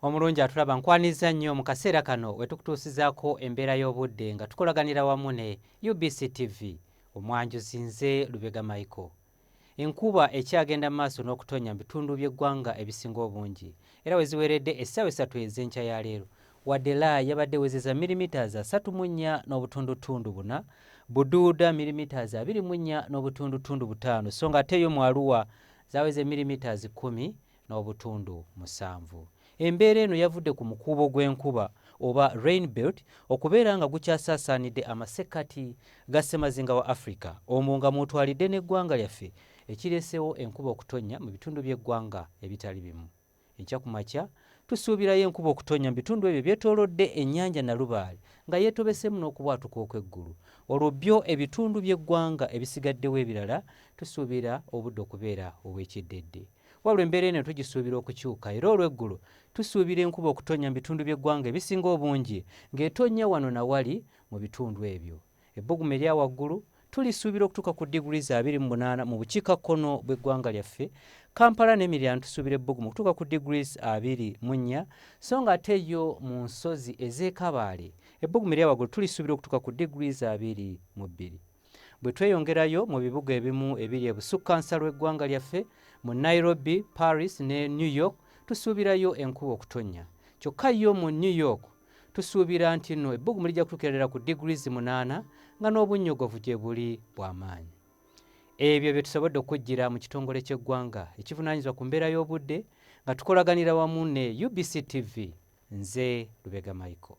omulungi atulaba nkwanizza nnyo mu kaseera kano wetukutuusizaako embeera y'obudde nga tukolaganira wamu ne UBC TV omwanjuzi nze Lubega Michael enkuba ekyagenda mu maaso n'okutonnya mu bitundu by'eggwanga ebisinga obungi era we ziweeredde essaawa essatu ez'enkya ya leero wadde la yabadde ewezeza milimitaazi asatu mu nnya n'obutundutundu buna buduuda milimitaazi abiri mu nnya n'obutundutundu butaano so nga ate yo mu aluwa zaweze millimetres kkumi n'obutundu musanvu. Embeera eno yavudde ku mukuubo gw'enkuba oba rain belt okubeera nga gukyasaasaanidde amasekkati ga ssemazinga wa Africa omwo nga mwotwalidde n'eggwanga lyaffe ekireesewo enkuba okutonnya mu bitundu by'eggwanga ebitali bimu. Enkya ku makya tusuubirayo enkuba okutonnya mu bitundu ebyo ebyetoolodde ennyanja Nalubaale nga yeetobeseemu n'okubwatuka okw'eggulu. Olwo byo ebitundu by'eggwanga ebisigaddewo ebirala tusuubira obudde okubeera obw'ekyeddedde. Wabula embeera eno tugisuubira okukyuka era olw'eggulo tusuubira enkuba okutonnya mu bitundu by'eggwanga ebisinga obungi ng'etonnya wano na wali mu bitundu ebyo. Ebbugumu erya waggulu tulisuubira okutuuka ku diguli za abiri mu munaana mu bukiika kkono bw'eggwanga lyaffe kampala n'emiriraano tusuubira ebbugumu okutuuka ku diguli abiri mu nnya so nga ate yo mu nsozi ez'ekabaale ebbugumu erya waggulu tulisuubira okutuuka ku diguli za abiri mu bbiri bwe tweyongerayo mu bibuga ebimu ebiri ebusukkansa lw'eggwanga lyaffe mu nairobi paris ne new york tusuubirayo enkuba okutonnya kyokka yo mu new york Tusuubira nti nno ebbugumu lijja kutuukira ddala ku degrees munaana nga n'obunnyogovu gye buli bwa maanyi. Ebyo bye tusobodde okujjira mu kitongole ky'eggwanga ekivunaanyizibwa ku mbeera y'obudde nga tukolaganira wamu ne UBC TV. Nze Lubega Michael.